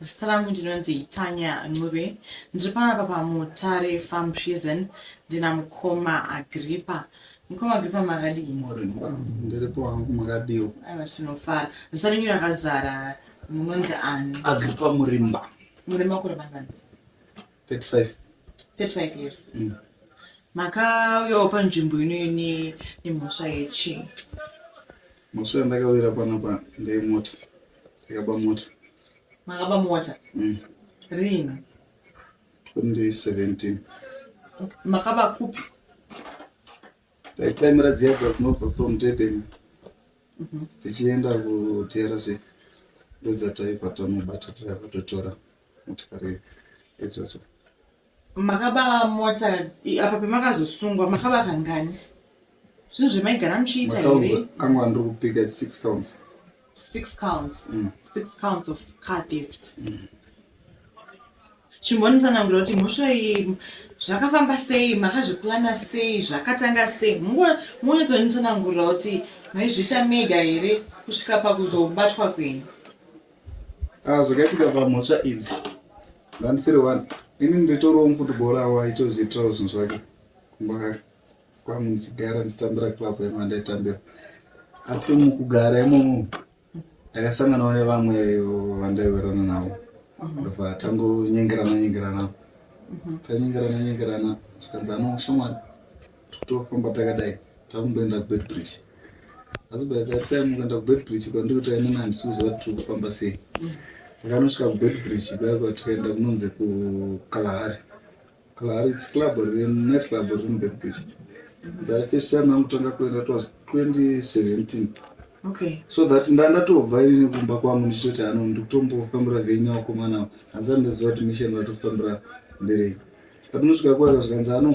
Zita rangu ndinonzi Tanya Ncube, ndiri panapa paMutare Farm Prison ndina mukoma Agripa. Mukoma Agripa makadii? Ndiripo hangu makadiwo. Aiwa tinofara. Zita renyu rakazara munonzi ani? Agripa Murimba. Murimba kuri mangani? 35 35 years mm. makauyawo panzvimbo inoine nemhosva yechii mhosva yandakawira panapa ndeyemota ndakaba mota makaba mota mm. rini 2017 makaba kupi taitaimira dziyabva dzinobva from durban dzichienda kutrc ndodzatai fatamubata taiva totora motikari idzodzo makaba mota apa pemakazosungwa makaba kangani zvinhu zvemaigara muchiita here kangwa ndiri kupika six counts six counts mm. six counts of car theft mm. chimbonitsanangura kuti mhosva iyi zvakafamba sei makazviplana sei zvakatanga sei mungonyatsonitsanangurira kuti maizviita mega here kusvika pakuzobatwa kwenyu Ah, zvakaitika pamhosva idzi ndandisiri one ini nditoriwo mufutibhora awo aitozviitirawo zvinhu zvake kumba kake kwangu ndichigara ndichitambira club yangu andaitambira asi mukugara imomo ndakasanganawo nevamwe vandaiwerana navo ndobva tangonyengerana nyengerana tanyengerana nyengerana zvikanzi anoshamwari tofamba takadai takumboenda kubedbridge asi by that time ukaenda kubedbridge kwandiri kuti ainini handisi kuziva kuti tiri kufamba sei takanosvika kubedbridge kuya kwatikaenda kunonzi kukalahari kalahari its club net club riri mubedbridge that first time angutanga kuenda twas 2017 okay. so that ndandatobva ini kumba kwangu ndichitoti ano ndikutombofambira venya wakomana hanzani ndaziva kuti mission vatofambira nderei patinosvika kuya zvikanzi ano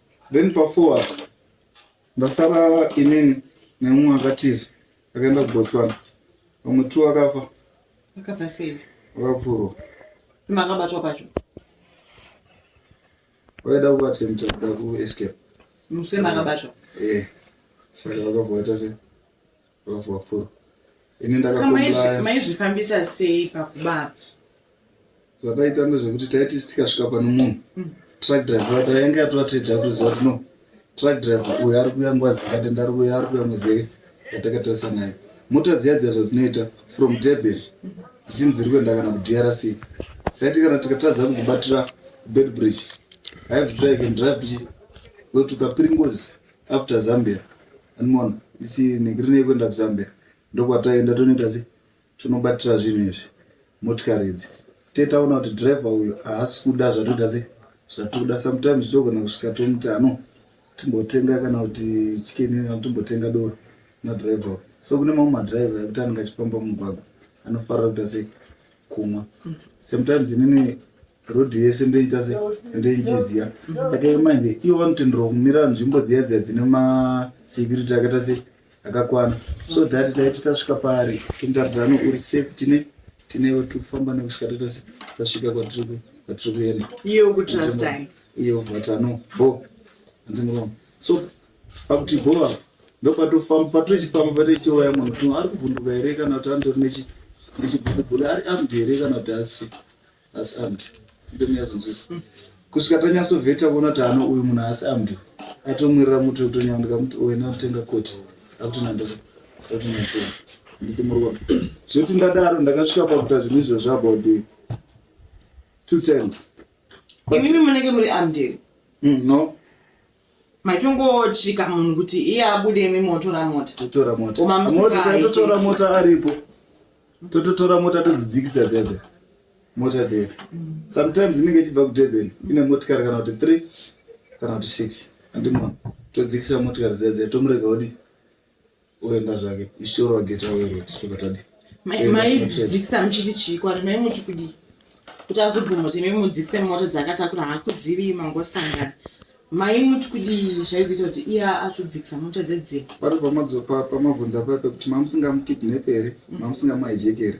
then pa four apa ndasara inini nemumwe akatiza akaenda kubotswana vamwe two akafa Akabva sei? vakapfurwa Kima akabatwa pacho. vaida kuattempta kuda kuescape Musema akabatwa. eh saka vakavhoita sei vavhura ini ndakamaizvifambisa sei pakubaba zvataita ndezvekuti taiti tikasvika pano munhu mm. truck driver tainge yatoratidza kuti ziva kuti no truck driver uyo ari kuya nguva dzakati ndari kuya ari kuya muzee yatakatarisa naye mota dziya dziya zvadzinoita from deben mm. dzichinzi dziri kuenda kana kudrc taiti kana tikatadza kudzibatira bed bridge i have to try again drive bridge wetukapiringozi after zambia anmona isi negiri nekuenda kuzambia ndokwataenda tonoita se tonobatira zvinhu izvi motikari idzi tetaona kuti driver uyo haasi kuda zvatoita se zvatiri kuda sometimes togona kusvika tomuti ano timbotenga kana kuti chikeni timbotenga doro nadriver so kune mamwe madriver ekuti anenge achifamba mumugwagwa anofarira kuita sei kumwa sometimes inini road yese ndoita se ndoichiziva saka ivo manje ivo vanotenderwa kumira nzvimbo dziya dziya dzine masecurity akaita se akakwana so that taiti tasvika paari tindaridano uri safe tine tinewo tiri kufamba nekusvika taita se tasvika kwatiri ku- kwatiri kuenda iyo kutrastai iyo vatano bo hanzi muromo so pakuti bhova ndokwatofamba patochifamba patoitowaya munhu kuti ari kuvhunduka here kana kuti andori nechibhurubhuru ari amd here kana kuti asi asi amd ndomuyazonzwisa kusvika tanyasovheta kuona kuti ano uyu munhu asi amd atomwirira muti utonyandika muti uena atenga koti akuti nandosa akuti natea nditi murwa zvoti ndadaro ndakasvika pakuta zvinhu izvo zvabout two times imimi munenge muri amd hmm, no maitongosvika munhu kuti iye abude imi motora mota totora mota Koma musika Moti haiteki. totora mota aripo tototora mota todzidzikisa dzedze mota dziya sometimes inenge ichibva kudurban ine motikari kana kuti three kana kuti six andimona todzikisa motikari dziya dziya tomurega odi oenda zvake ishoro ageta weroti tokatadi maidzikisa muchiti chii kwari mai muti kudii kuti azobvuma kuti mai mudzikise mota dzakatakura hakuzivi mangosangana mai muti kudii zvaizoita kuti iya azodzikisa mota dzedzeka pari pamabvunza paya pekuti mamusingamukidnepe here mamusingamahijeki here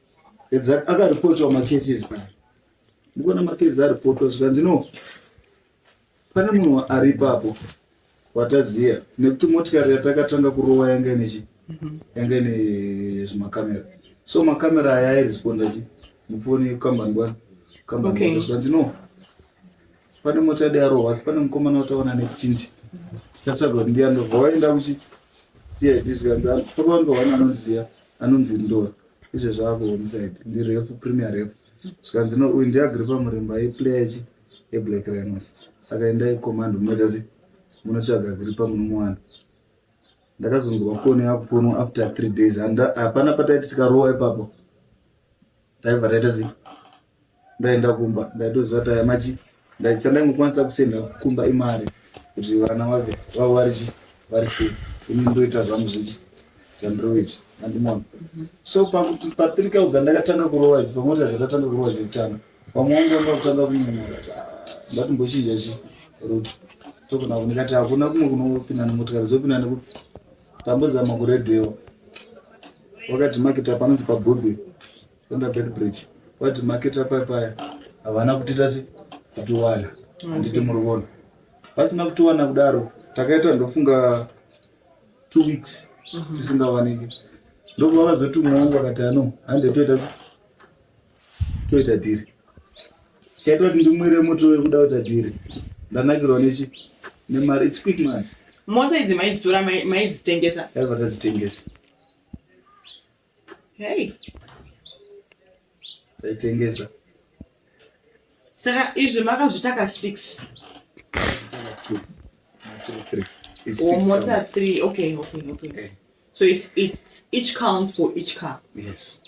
Exactly. Akaripotwa macases aya. Mukuona macases aripotwa zvikanzi no. Pane munhu ari ipapo wataziya nekuti motikari yatakatanga kurova yanga ine chi mhm. yanga ine zvimakamera so makamera aya airesponda chi mufoni yekukambani bwana kambani okay. zvikanzi no pane mota yade yarova asi pane mukomana wataona netindi chatsvaga kuti ndiyandobva waenda kuchi cid zvikanzi pakawandowana anondiziva anonzi ndor izve zvako homside ndirefu premier refu zvikanzi no uyu ndiagripa muremba aiplayer chi eblack rhinos saka endai command munoita sei munotsvaga agripa munomuwana ndakazonzwa foni yakufonwa after three days hapana pataiti tikarowa ipapo taiva taita sei ndaenda kumba ndaitoziva kuti aya machi chandaingokwanisa kusenda kumba imari kuti vana vave vavo vari chi vari safe ini ndoita zvangu zvichi zvandinoita andimona so pakuti papirikao dzandakatanga kurova idzi pamwe kuti dzakatanga kurova dzekutanga pamwe wangu wanga kutanga kunyumura kuti ah, ndatimbochinja chi ruto tokona kunika ti hakuna kumwe kunopinda nemotikari dzopinda nekuti tambozama kuredhiyo wakati makita panonzi pabhudhi Under bed bridge. What market up paya. Havana kutita si kutiwana. Handiti muri vona. Vasina kutiwana kudaro. Takaita ndofunga two weeks mhm. tisingawaniki. Ndobva vazotumwa wangu vakati ano hande toita si toita dhiri. Chaitwa kuti ndimwire moto wekuda kuita dhiri. Ndanakirwa nechi nemari it's quick man. Moto idzi maidzitora maidzitengesa. Yaiva tadzitengesa. Hey. Taitengesa. Saka izvi makazvitaka 6. Or motor 3. Okay, okay, okay. Eh. So it's, it's each count for each car. Yes.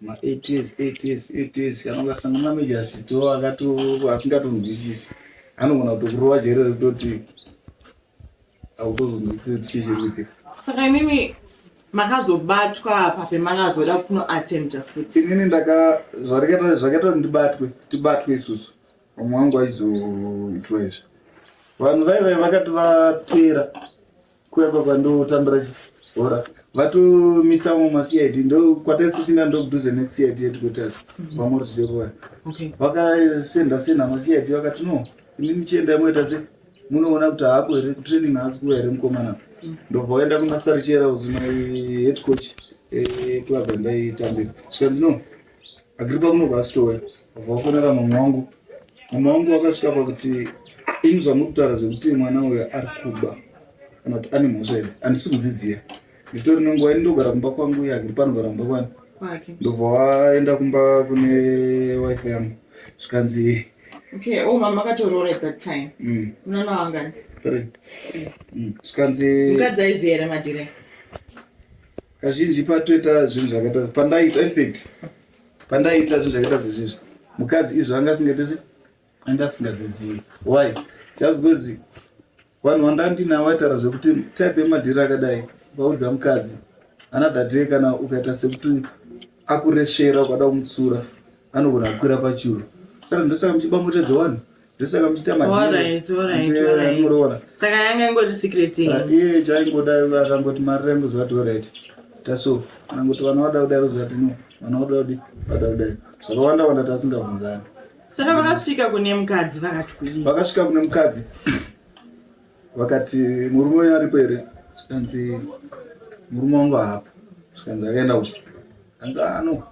Ma 8 years, 8 years, 8 years. Kana ukasanga mameja asito akato asingatonzwisisi. Anogona kutokurova jere rototi saka imimi makazobatwa apa pemakazoda kunoattempta futi inini ndaka zvakaita kuti ndibatwe tibatwe isusu vamwe wangu aizoitwa izvi vanhu vaive vakati vatera kuya kwakwa ndotambira chibhora vatomisa vamwe macid ndokwataisichinda ndokudhuze nekucid yetikotas mhm. vamwe rutichekuva vakasenda senda macid vakati no imi muchienda moita sei munoona kuti haaku here kutraining haasi kuva here mukomana ndobva waenda kumasarichera uzima head coach club yandaitambira zvikanzi no agripa kunobva asitouya bva wafonera mama wangu mama wangu wakasvika pakuti imi zvamuri kutaura zvekuti mwana uyo ari kuba kana kuti ane mhosva idzi handisi kuzidziya nditori nenguva ini ndogara kumba kwangu uye akiri pano gara kumba kwani ndobva waenda kumba kune wife yangu zvikanzi okay oh mama akatoroora at that time mm. unana wangani mm. zvikanzi mukadzi aiziva here madire kazhinji patoita zvinhu zvakaita pandaiita effect pandaiita zvinhu zvakaita zvezvizvi mukadzi izvo anga asingaitese anga asingazizivi why just because vanhu vandandinavo vaitaura zvekuti type yemadhiri akadai vaudza mukadzi another day kana ukaita sekuti akuresvera ukada kumutsura anogona kukwira pachuru kana ndosaka muchibamotedza wani ndosaka muchiita madimuroonasaka yanga ingoti secret iye chaingoda akangoti mari rangu zvati orit taso anangoti vana vada kudai rozvati no vana vada kudai vada kudai zvakawanda wanda tasingabvunzani saka vakasvika kune mukadzi vakati kudii vakasvika kune mukadzi vakati murume uyo aripo here zvikanzi murume wangu haapo zvikanzi akaenda uku kanzi ano ah,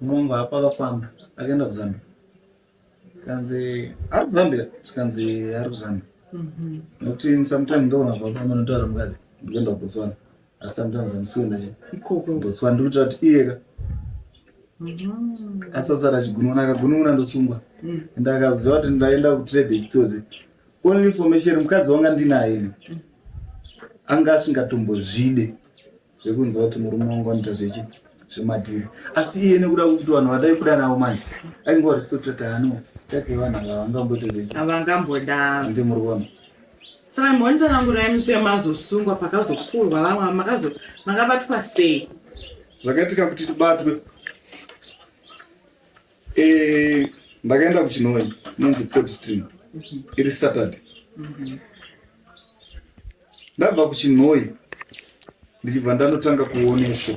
murume wangu haapo akafamba akaenda kuzambia kanzi ari kuzambia zvikanzi ari kuzambia mhm. nokuti sometimes ndoona baba manotaura mukadzi ndikuenda kubotswana asi sometimes I'm sure nacho ikoko ndotswa ndiri kuita kuti iyeka mm. asasara achigununa akagununa ndosungwa mm. and akaziva kuti ndaenda kutrade chitsodzi only information mukadzi wanga ndinaye ini mm. anga asingatombozvide zvekunzwa kuti murume wangu anoita zvechi zvematiri asi iye nekuda kuti vanhu vadai kuda navo manje ainge warespectataano take vanhu ava vangamboita zvechi avangamboda ndi muri kuona Saka mhonitsanangurai muswe mazosungwa pakazopfurwa vamwe makazo makabatwa sei zvakaitika kuti tibatwe eh, ndakaenda kuchinoi nonzi cod stream mhm. iri saturday mhm. ndabva kuchinoi ndichibva ndanotanga kuoneswa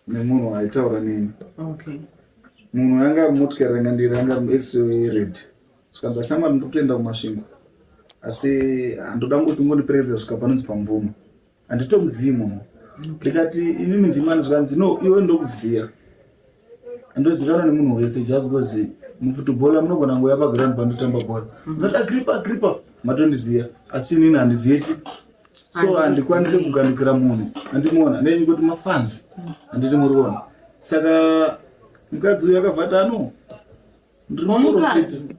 nemunhu aitaura neni okay munhu anga ari motikari anga ndiri anga ari muextray red zvikanzi ashamwari ndiri kutoenda kumasvingo asi handoda ngoti ngondiperekedza svika panonzi pamvumo handitomuzivi munhu ndikati imimi ndimani zvikanzi no iwe ndokuziva andozikanwa nemunhu wese just because mufutubhola munogona ngo yapaground pandotamba bhora ndati agripa agripa matondiziva asi inini handizive chi so handikwanise kugandukira munhu andimuona nenyu kuti mafanzi handiti muri kuona saka mukadzi uyu akabva ati ano ndiri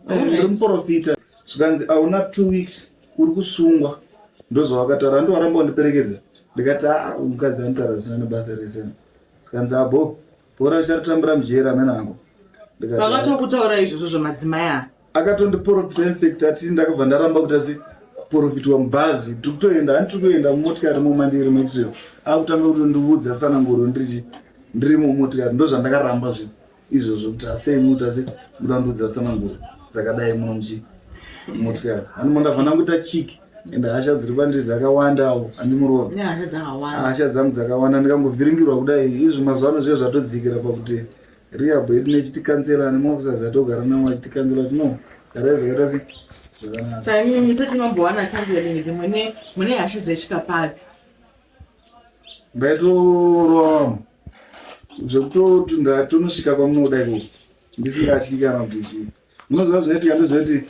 eh, muprofita zvikanzi hauna two weeks uri kusungwa ndozvawakataura andiwaramba wandiperekedza ndikati a ah, mukadzi anitaura zvisina nebasa rese zvikanzi abo ah, Bhora richatambira mujeri amene angu. Vakatokutaura izvozvo zvamadzimai aya. Akatondiporofita infect ati ndakabva ndaramba kuti asi kuporofitwa mubhazi tiri kutoenda hani tiri kuenda mumotikari momandiri moitiro akutanga kuti ndiudza sananguro ndirichi ndiri mumotikari ndozvandakaramba zvi izvozvo kuti asei muti asi mutandiudza sananguro dzakadai muno muchi motikari hani mondavana kuita chiki ende hasha dziri kwandiri dzakawandawo andimuroa hasha dzangu dzakawanda ndikambovhiringirwa kudai izvi mazuva ano zviye zvatodzikira pakuti rehab yedu nechitikansela nemaofisas atogara navo achitikansela kuti no garai zvakaita si zvakanakaimbaitorova vamwe zvekutotunda tonosvika kwamunoda iko ndisingatyi kana kuti chii munoziva zvinoitika ndezvekuti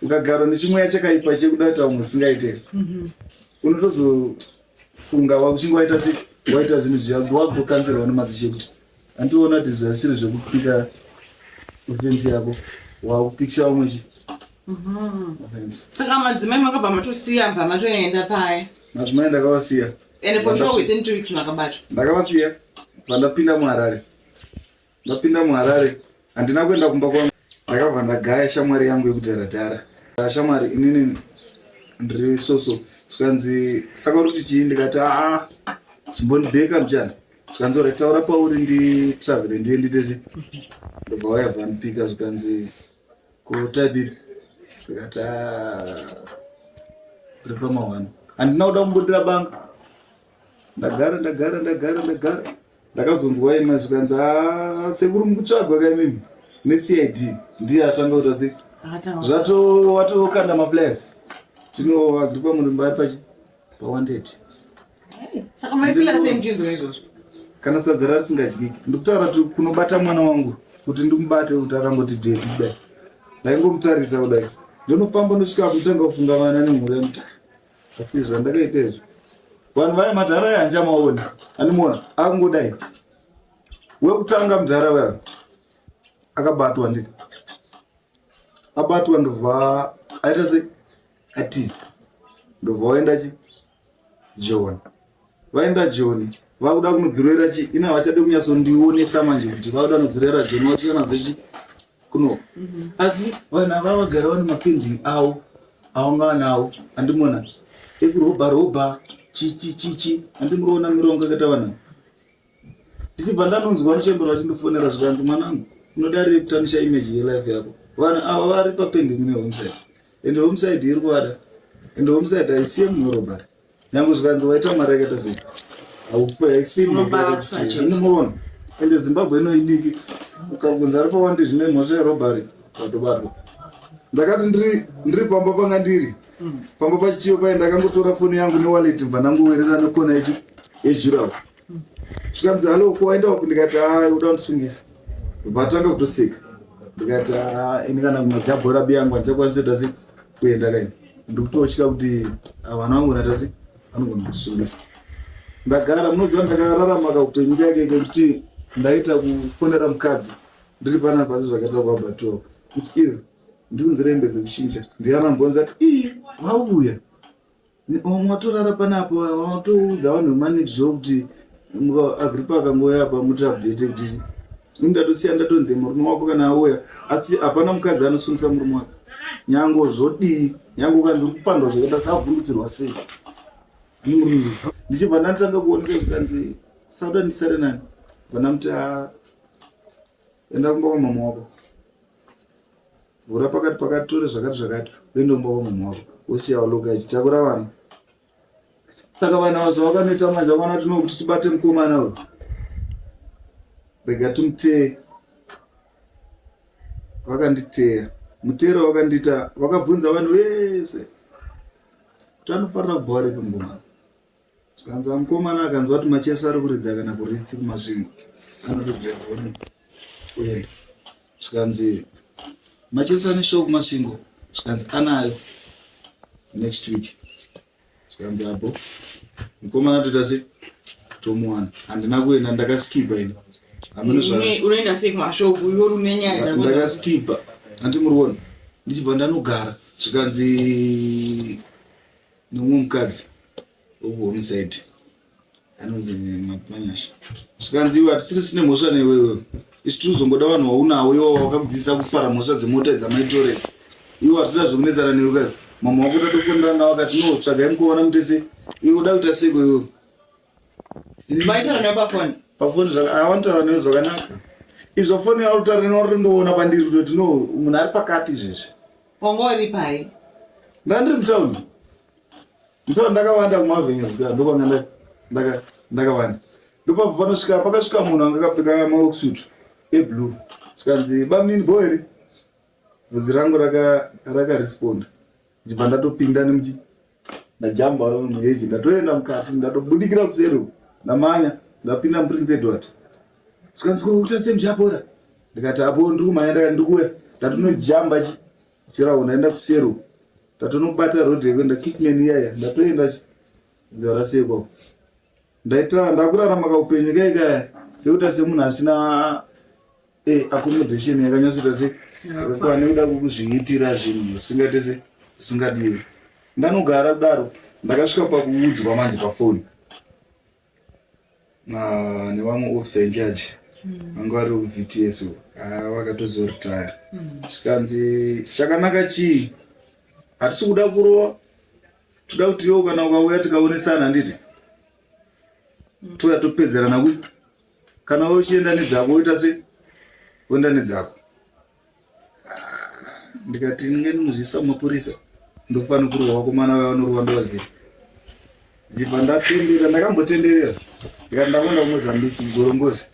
ukagara nechimweya chakaipa chekuda kuita vamwe zvisingaite mhm. unotozofunga wakuchinge waita se waita zvinhu zviya kuti wakutokanzirwa nemadzishe kuti andiona kuti zvasiri zvekupika ofensi yako wakupikisa vamwe chi mhm. saka madzimai makabva matosiya bva matoenda paya madzimai ndakavasiya And for sure within two weeks makabata. Ndakavasiya pandapinda muHarare. Ndapinda muHarare handina kuenda kumba kwangu. Ndakabva ndagaya shamwari yangu yekudhara dhara. Ah, shamwari inini ndiri soso zvikanzi saka uri kuti chii ndikati aa ah, zvimbondibeka mchana zvikanzi ora taura pauri nditravele ndive nditese ndobva wayavha ndipika zvikanzi kutype ndikati ripa mawani handina kuda kumbudira banga ndagara ndagara ndagara ndagara ndakazonzwa ema zvikanzi sekuru mukutsvagwa kaimimi necid ndiye atanga kuta se zvato watokanda maflas tinoagripa murimba ari pachi pawanted saka maifila sei muchinzwa izvozvo kana sadza rarisingadyiki ndikutaura kuti kunobata mwana wangu kuti ndimubate kuti akangoti dedi kudai ndaingomutarisa kudai ndonofamba ndosvika kutanga kufunga vana nemhuri yamutara asi zvandakaita izvo vanhu vaya madhara aya handichamaona andimuona akungodai wekutanga mudhara waya akabatwa ndi abatwa ndobva aita se atiza ndobva waenda chi joni vaenda joni vakuda kunodzorera chi ina havachade kunyatsondionesa manje kuti vakuda kunodzorera joni vachiya nadzo chi kuno mhm. asi vanhu ava vagara vane mapendi avo aunga nawo andimona ekurobha robha chichichichi andimuroona mirongo yakaita vanhu ndichibva ndanonzwa muchembera vachindifonera zvikanzi mwanangu unodarire kutanisha image yelife yako vanhu ava vari papendi mune homeside ende homeside iri kuada ende homeside haisiye munorobari nyange zvikanzi waita mari yakaita sei haufeainomuona ende zimbabwe inoidiki ukakunzi ari pawandi zvine mhosva yerobari vatobatwa ndakati ndiri pamba panga ndiri pamba pachitiyo paye ndakangotora foni yangu newaleti bva ndangowerera nekona yejurawo zvikanzi halo ko waenda wapi ndikati a ah, uda kundisungisa vatanga kutoseka ndikati a ah, ini kana kumajabhora biyangu andichakwanisa kuita sei kuenda kaini ndikutotya kuti ah, vana vangu naita sei anogona kusungisa ndagara munoziva ndakararama kaupenyu kake kekuti ndaita kufonera mukadzi ndiri pana pasi zvakaita kwabatoa kuti iyo ndikunzirembedze kuchinja ndiana mbonzi ati ii vauya Mwatorara panapo watoudza vanhu vemanext door kuti agripa akangouya apa muti update kuti ndatosiya ndatonze murume wako kana auya asi hapana mukadzi anosungisa murume wake nyango zvodii nyango ukanzi uri kupandwa zvakaita savhundutsirwa sei ndichibva ndatanga kuoneka zvikanzi sauda ndisare nani vanamuti enda kumba kwamama wako vhura pakati pakati tore zvakati zvakati uende kumba kwamama wako wosiya waloka achitakura vana saka vana avo zvavakanoita manje vana tino kuti tibate mukomana uyu rega timutee vakanditeya mutero vakandiita vakabvunza vanhu vese kuti anofanira kubva varipi mukomana Zvikanzi amukomana akanzwa kuti macheso ari kuridza kana kuritsi kumasvingo anotobvegoni kuenda zvikanzi macheso ane show kumasvingo zvikanzi anayo next week zvikanzi apo mukomana toita se tomuwana handina kuenda ndakaskipa ini unoenda sei kumashow uyo rume nyaya dzako ndakaskipa handi muriona ndichibva ndanogara zvikanzi nomumwe mukadzi wekuhome side anonzi mapanyasha zvikanzi iwe hatisiri sine mhosva newewe isu tiri kuzongoda vanhu waunawo iwo wakakudzidzisa kupara mhosva dzemota dzamaitorets iwe hatida zvekunetsana newe kayo mama wako tatofonera nga vakati no tsvagai mukuvana mutese iwe uda kuita seko iwe Maitaura nayo pafoni. Pafoni zvaka ah, vanotaura nayo zvakanaka. Izvo foni yavo taura nayo uri ndoona pandiri kuti no munhu ari pakati izvezvi. Wanga uri pai? Ndandiri mutown. Mutown ndakawanda kumavhenga zvika ndokwanga ndaka ndaka ndakawanda. Ndopapo panosvika pakasvika munhu anga akapfeka maworksuit eblue. Sikanzi bamnini boy ri. Vhudzi rangu raka raka responder. ndichibva ndatopinda nemuchi ndajamba muheji ndatoenda mukati ndatobudikira kuseri ndamanya ndapinda muprince edward zvikanzwa kuita semuchapora ndikati apo ndiri kumhanya ndaka ndikuya ndatonojamba chi chirawo ndaenda kuseri ndatonobata road yekuenda kickman iyaya ndatoenda chi nzara sekwa ndaita ndakurarama kaupenyu kai kaya kekuita semunhu asina eh, accommodation yakanyatsoita se pane kuda kukuzviitira zvinhu zvisingaite se zvisingadiwi ndanogara kudaro ndakasvika pakuudzwa manje pafoni nevamwe officer incharge hmm. vanga vari vts ah, vakatozoritaya hmm. zvikanzi chakanaka chii hatisi kuda kurova toda kuti iwo kana ukauya tikaonesana handiti touya topedzerana ku kana uchienda nedzako woita se woenda nedzako ndikati ndinge ndinozviisa mumapurisa ndofanira kurwa vakomana vaya vanorwa ndovaziva ndibva ndatenderera ndakambotenderera ndikati ndakuenda kumozambiki gorongozi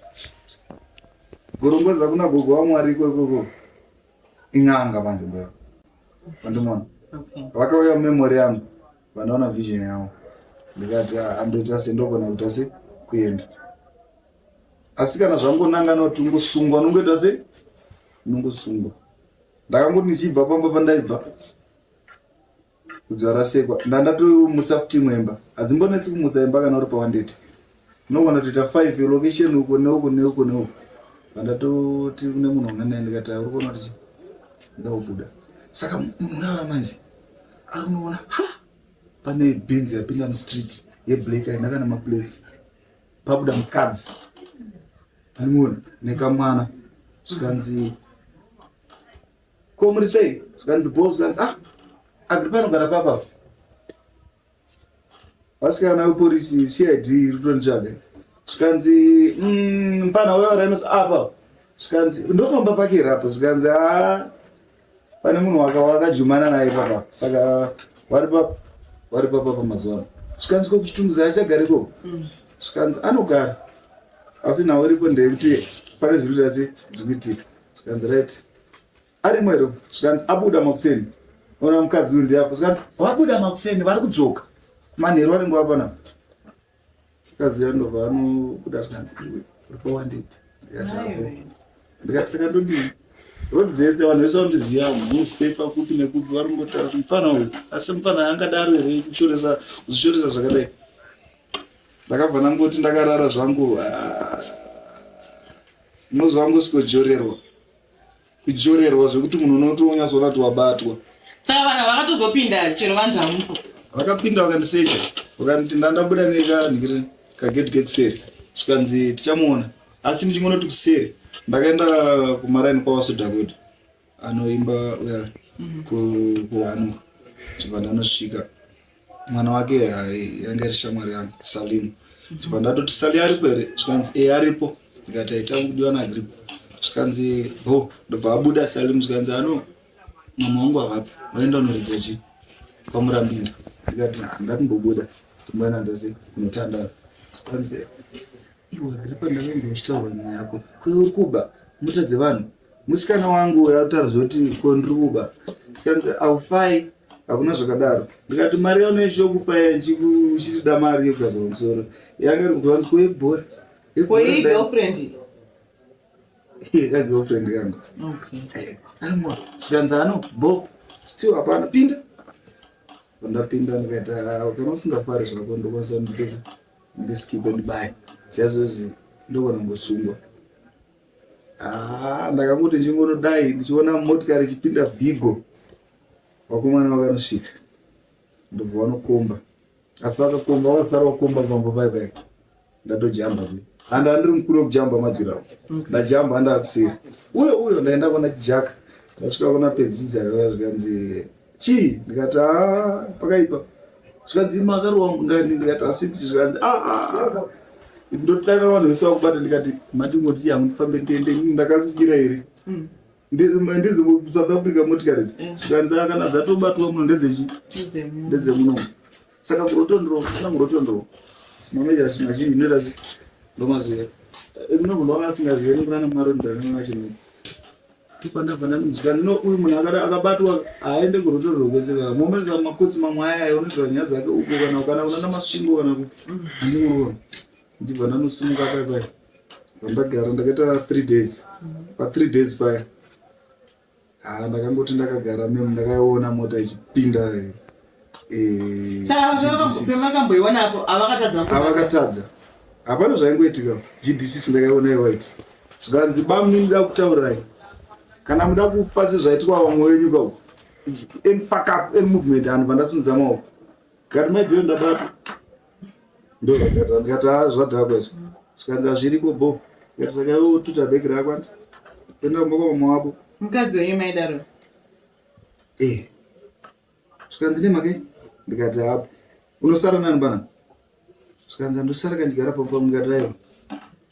gorongozi akuna gogo vamwari ikokoko in'anga manje mbuya vandimona vakauya memory yangu vanoona vision yavo ndikati ah, andoita se ndogona kuita se kuenda asi kana zvangonangana kuti ungosungwa unongoita se unongosungwa ndakangoti ndichibva pamba pandaibva Kudzwa rasekwa ndandatomutsa futi imwe imba hadzimbonetsi kumutsa imba kana uri pawandeti unogona kutoita five location uko neuko neuko neuko vandatoti kune munhu wanga naye ndikati uri kuona kuti ndakubuda saka munhu uyava manje ari unoona ha pane benzi yapinda mustreet yeblack aina kana maplace pabuda mukadzi animoni nekamwana zvikanzi ko muri sei zvikanzi bos zvikanzi ah agripa anogara papa vasikana veporisi cid rutonditsvage zvikanzi mm, mpana uyo rainos apa zvikanzi ndopamba pake here apa zvikanzi a ah, pane munhu wakajumana naye papa saka vari papa vari papa pamazuvano zvikanzi ko kuchitunguza achagari ko mm. zvikanzi anogara asi nhau iripo ndeyekuti pane zviri kuti asi zvikuitika zvikanzi right ari mwero zvikanzi abuda makuseni ona mukadzi uyu ndiyapo zvikanzi vabuda makuseni vari kudzoka manheru vanenge vapana mukadzi uya ndobva anobuda zvikanzi iwe uripowanditi ndikati saka ndodii rod dzese vanhu vese vanondiziva newspaper kupi nekupi vari kungotaura kuti mufana uyu asi mufana angadaro here kushoresa kuzvishoresa zvakadai ndakabva ndangoti ndakarara zvangu unozwa wangu sikojorerwa kujorerwa zvekuti munhu unotonyatsoona kuti wabatwa saka vanhu vakatozopinda chero vanzamuko vakapinda vakandiseja vakanditi ndandabuda nekanhiri kagedhi kekuseri zvikanzi tichamuona asi ndichingonoti kuseri ndakaenda kumaraini kwavasodakuda anoimba uya kuhwanu chibanda anosvika mwana wake yanga iri shamwari yangu salimu chibanda atoti sali aripo here zvikanzi e aripo ndikati aita kudiwa naagripo zvikanzi ho ndobva abuda salimu zvikanzi ano mama wangu avapo vaenda unoridza chi kwamurambinda ndikati handati mbobuda ndimboenda ndose kunotandaza zvikanzi iwe agripa ndakainza uchitaura nyaya yako kuyo uri kuba mota dzevanhu musikana wangu uyo atotariza kuti ko ndiri kuba tikanzi aufai hakuna zvakadaro ndikati mari yaunoishi yokupa uchitida mari yekugadzwa musoro yanga iri kuanzi koibhora kagirlfriend kangu eh, anwa chikanzi ano bob still hapana pinda pandapinda ndikaita ah, kana usingafari zvako ndokwanisa nditesa ndiskipe ndibaya chaizvozvi ndokona ngosungwa Ah, ndakangoti ndichingonodai ndichiona motikari ichipinda vigo vakomana vakanosvika ndobva vanokomba asi vakakomba vasara vakomba pamba pai pai ndatojamba zve handa andiri mukuru wekujamba madzirawo ndajamba handakuseri uyo uyo ndaenda kona chijaka ndasvika kona pedzidzi akauya zvikanzi chii ndikati haa pakaipa zvikanzi makaro wangu ngani ndikati asiti zvikanzi aa ah, ah, ah. ndotanga vanhu vese vakubata ndikati mati moti yangu ndifambe ndiende ndakakukira here mm. ndizi south africa motikari dzi mm. zvikanzi kana dzatobatwa muno ndedzechi ndedzemunomu saka kurotondro kana kurotondro manoita zvinhu zhinji inoita zi ndomaziva eh, no munhu wanga asingazive nekunana mwari ndanana chino tipandabva ndanonzikana no uyu munhu akabatwa haaende kurotondro kwese kaka moments amakotsi mamwe aya aya unoitira nyaya dzake uko kana kana unana masvingo kana ku handimurona ndibva ndanosumuka paya paya vandagara ndakaita three days pa three days paya Haa ndakangoti ndakagara mem ndakaiona mota ichipinda eh, saka vavakakupe makamboiona apo avakatadza avakatadza hapana zvaingoitika gd6 ndakaiona iwaiti zvikanzi bamni muda kutaurirai kana muda kufa sezvaitwa vamwe wenyu ka any fuck up any movement anhu vandasunzama uko kati maideo ndabatwa ndozvakata ndikati haa zvadhakwa izvo zvikanzi hazviriko bho ndikati saka iwe ututa bheki rako andi toenda kumba kwamama wako mukadzi wenyu maidaro eh zvikanzi nemake ndikati hapo unosara nani bana zvikanzi andosara kandigara pampa ndikati aiwa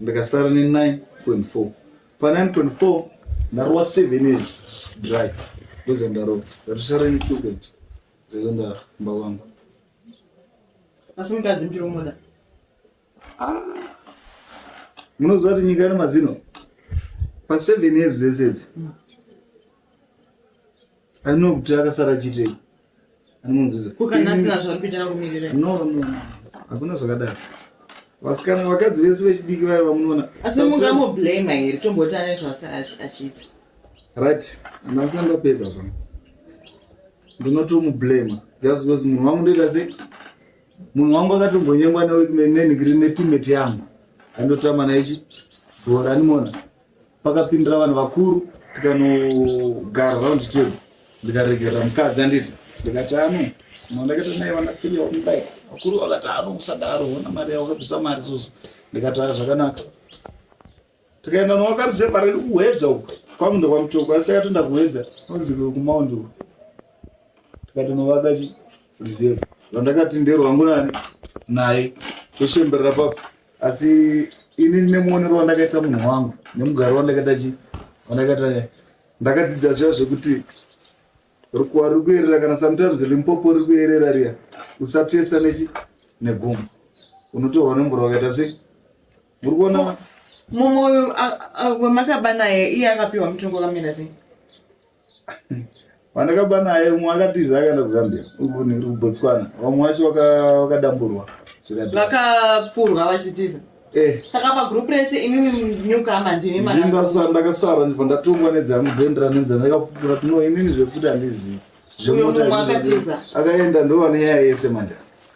ndakasara ne 9.4 pa 9.4 ndarova 7 years dry ndoza ndarova ndatosara ne 2 kwete zaiva ndamba wangu asi mukadzi mchiri umoda ah. munoziva kuti nyika ine mazino pa 7 years dzese idzi mm. anokuti akasara chitei anomunzwisa ko kana asina zvaari kuita akumirira no no hakuna zvakadaro vasikana vakadzi vese vechidiki vaye vamunoona asi mungamublame here tomboti ane zvaachiita right ndasina ndapedza zvangu ndinotomublame just because munhu wangu ndoita se munhu wangu akatombonyengwa nenigiri netimeti yangu andotama naichi bhora animona pakapindira vanhu vakuru tikanogara round table ndikaregerera mukadzi anditi ndikati ano mandakaita naye vanapilia wamudai vakuru vakati ano musadaro ona mari yavo vakabvisa mari soso ndikati aa zvakanaka tikaenda nowakati separei kuhwedza uku kwangu ndokwamutoko asi akatoenda kuhwedza anonzi kumaundi uku tikatonovaka chi reserve vandakati nderwangu nani naye tochemberera papo asi ini nemuonero wandakaita munhu wangu nemugaro wandakaita chi wandakaita ndakadzidza zviya zvekuti rukuwa riri kuyerera kana sometimes limpopo riri kuyerera riya usatesa nechi negumbo unotorwa nemvura wakaita sei muri kuona mumwe wemakaba naye iye akapiwa mutongo kamira sei Pandakaba naye umwe akatiza akaenda kuZambia kuBotswana, vamwe vacho vakadamburwa vakapfurwa vachitiza eh. saka pagroup rese imimi nyukama ndimi ndinasa ndakasara ndibva ndatongwa nedzangu dhendera nenzana ndakapupura tino imimi zvekuti handizivi akaenda ndovanenyaya yese manja